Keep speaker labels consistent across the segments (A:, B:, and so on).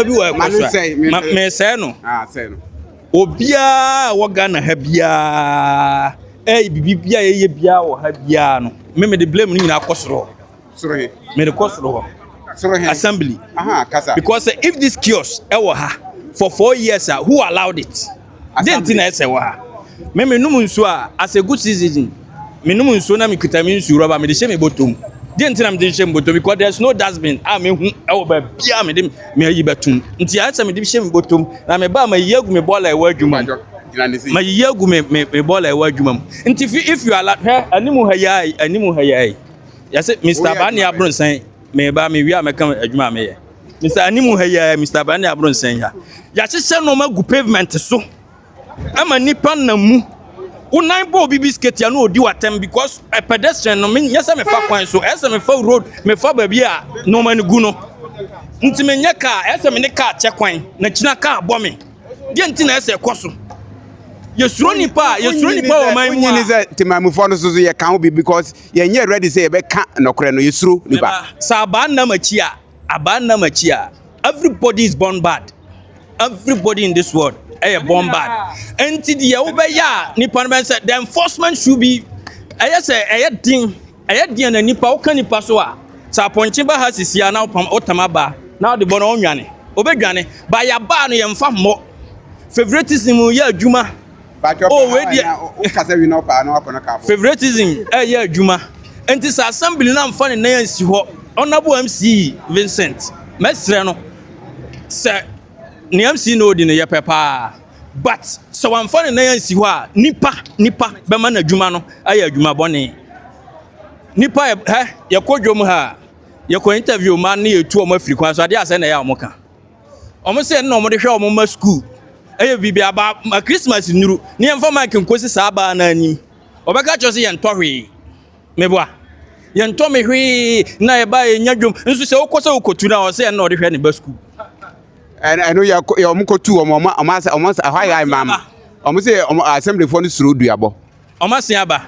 A: bi wɔ ɛkɔ so a ma mesɛe no obiara wɔ ghana ha biara ɛyɛ biribi bi a yɛyɛ biara wɔ ha biara no me mede blame no nyinaa kɔ soro hɔ mede kɔ soro hɔ assembly because if this kiosk ɛwɔ ha for four years a who allowed it Dɛn nti na ɛsɛ wɔ ha? Me, menom nsuo a, as a good citizen, menom nsuo na mekita me nsuo rɔba, mede hyɛ me bɔtɔ mu. Dɛn nti na mede hyɛ me bɔtɔ mu? Because there's no dustbin a mehu ɛwɔ baabi a mede me ayi bɛtom. Nti ayɛ sɛ mede hyɛ me bɔtɔ mu. Na me ba mayiyi agu me bɔɔla ɛwɔ adwuma mu. Mayiyi agu me me me bɔɔla ɛwɔ adwuma mu. Nti if you are hwɛ anim ha yi ayi anim ha yi ayi. Yɛsɛ Mr. Bani Abronsan. Meba, mewie a mɛka adwuma a meyɛ. Mr. Anim ha yi ara, Mr. Brande Abronsan yi ha. Yɛahyehyɛ nneɛma agu pavement so ama nnipa nam mu. Wo nan bɔ obi bisiketi a na ɔdi w'atɛm because a pedestrian no menyɛ sɛ mefa kwan so, ɛyɛ sɛ mefa road, mefa baabi a nneɛma no gu no. Nti menyɛ kaa, ɛyɛ sɛ me ne kaa kyɛ kwan na kyina kaa bɔ me. Deɛ nti na ɛyɛ sɛ ɛkɔ so. Yɛsuro nipa a, yɛsuro nipa wɔ ɔman mu a. Wonyini sɛ temammufoɔ no so so yɛka wo bi because yɛnyɛ ready sɛ yɛbɛka nɔkorɛ no yɛsuro nipa. Sɛ abaa nnam akyi a abaa nnam akyi a everybody is born bad everybody in this world ɛyɛ born bad ɛnti deɛ wobɛyɛ a nipa no bɛn sɛ the enforcement should be ɛyɛ sɛ ɛyɛ den ɛyɛ deɛ na nipa woka nipa so a sɛ apɔnkye ba ha sisi a na wotam aba na wode bɔ no ɔnwane obɛdwane ba yɛabaa no yɛmfa mmɔ favoritism yɛ adwuma Oh, wei deɛ. Favoritism ɛyɛ adwuma. Nti sɛ assembly no amfa ne nan ansi hɔ, Honorable MC Vincent, mɛsrɛ no sɛ ne MC na odi no yɛ pɛ paa. But sɛ wamfa ne nan ansi hɔ a, nipa nipa bɛma n'adwuma no ayɛ adwuma bɔne. Nipa yɛ hɛ yɛkɔ dwom ha a, yɛkɔ interview ma ne yɛtu wɔn afiri kwan so adeɛ asɛ na ɛyɛ a wɔka. Wɔn sɛ ɛno na wɔde hwɛ wɔn mma sukuu. Ɛyɛ biribi aba ma Christmas nnuru ne yɛmfa mic nkosi saa baa no anim. Ɔbɛka kyerɛ sɛ yɛntɔ hwee. Meboa. Yɛntɔ me hwee na ɛba a yɛnya dwom. Nso sɛ wokɔ sɛ wokotu na ɔsɛ ɛno na ɔde hwɛ ne ba sukuu. Ɛno yɛ wɔn kotu wɔn wɔn wɔn wɔn ɛhɔ ayɛ ayɛ maama. Wɔn sɛ wɔn assemblyfoɔ no suro duabɔ. Ɔmasea ba,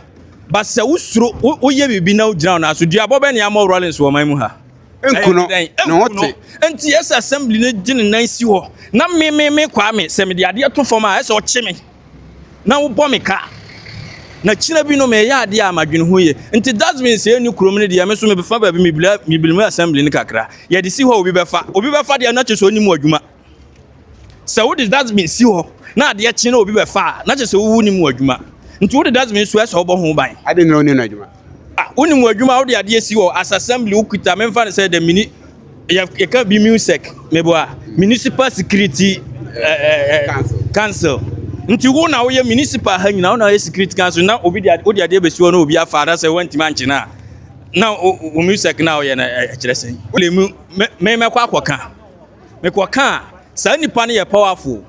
A: ba sɛ wo suro, wo yɛ biribi na wo gyina wɔn aso. Dua bɔ bɛ ne amɔ Rawlings wɔ man mu ha. Nku no, ne ho te. Nti ɛsɛ assembly no gye ne nan si hɔ. Na me me me kwaa me sɛ me de adeɛ to fam a ɛsɛ ɔkye me. Na wo bɔ me ka. Na kyina bi no me yɛ adeɛ a ma dwene ho yie. Nti dustbin sɛ ɛni kurom no deɛ me so me fa baabi me bila me bila mu assembly no kakra. Yɛ de si hɔ obi bɛ fa. Obi bɛ fa deɛ na kyɛ sɛ ɔni mu adwuma. Sɛ wode dustbin si hɔ na adeɛ kye na obi bɛfa a, na kyerɛ sɛ wowu nim w'adwuma. Nti wode dustbin so ɛsɛ wobɔ ho ban. Adɛn nti na wonim n'adwuma? Ah, wonim w'adwuma a wode adeɛ si hɔ as assembly wokita memfa no sɛ the mini yɛka bi musec meboa municipal security eh, council. council. Nti wo na woyɛ municipal ha nyina wo na woyɛ security council na obi de wode adeɛ bɛsi hɔ na obi afa anasɛ woantimi ankye no a na wo musec na woyɛ no ɛkyerɛ sɛn? Wode mu memɛkɔ akɔka. mekɔkaa saa nipa no yɛ powerful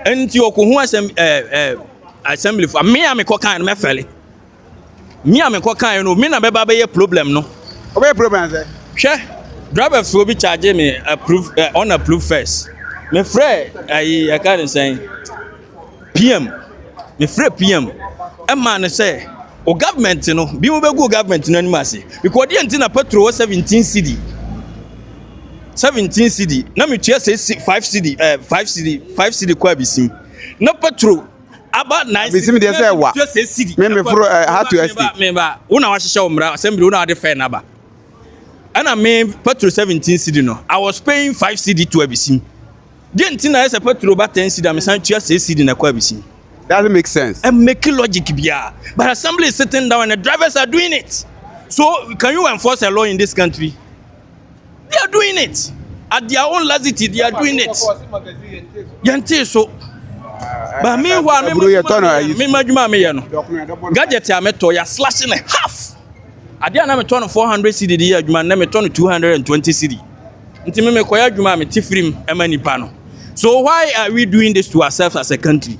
A: nti ɔkɔ ho asɛm ɛɛ ɛɛ assembly fo me a mekɔkaa no mɛfɛle me a mekɔkaa no me na bɛba bɛyɛ problem no. ɔbɛyɛ problem sɛ. hwɛ driver fo bi charge me approve uh, on approve first mefrɛ ayi ɛka ne sɛn PM, mefrɛɛ PM maa no sɛ wo government no, bi mo bɛgu wo government no anim ase. Because deɛ nti na petrol wɔ 17 cedi, 17 cedi, na metua sɛ 5 cedi, eh, 5 cedi, 5 cedi kɔ abisim. Na petrol aba 9 cedi. Abisim deɛ sɛ ɛwa. Metua sɛ cedi. Me meforo eh, how to estate. Me ba, wo na wahyehyɛ wo mmara, asɛm bi wo na wade fɛn aba. Ɛna me petrol 17 cedi no, I was paying 5 cedi to abisim. Deɛ nti na ɛyɛ sɛ Petro ba ten cedi a mesan tua sɛ cedi na ɛkɔ abisi. Doesn't make sense. Ẹ make logic biara. But assembly is sitting down and the drivers are doing it. So can you enforce a law in this country? They are doing it. At their own laxity, they are doing it. Yɛnte so. But meanwhile, me madwuma a meyɛ no, gadget a metɔ, yɛ slash ne half. Adeɛ a na metɔ no 400 cedi de yɛ adwuma, na metɔ no 220 cedi. Nti me mekɔyɛ adwuma a mete firim ma nipa no. So why are we doing this to ourselves as a country?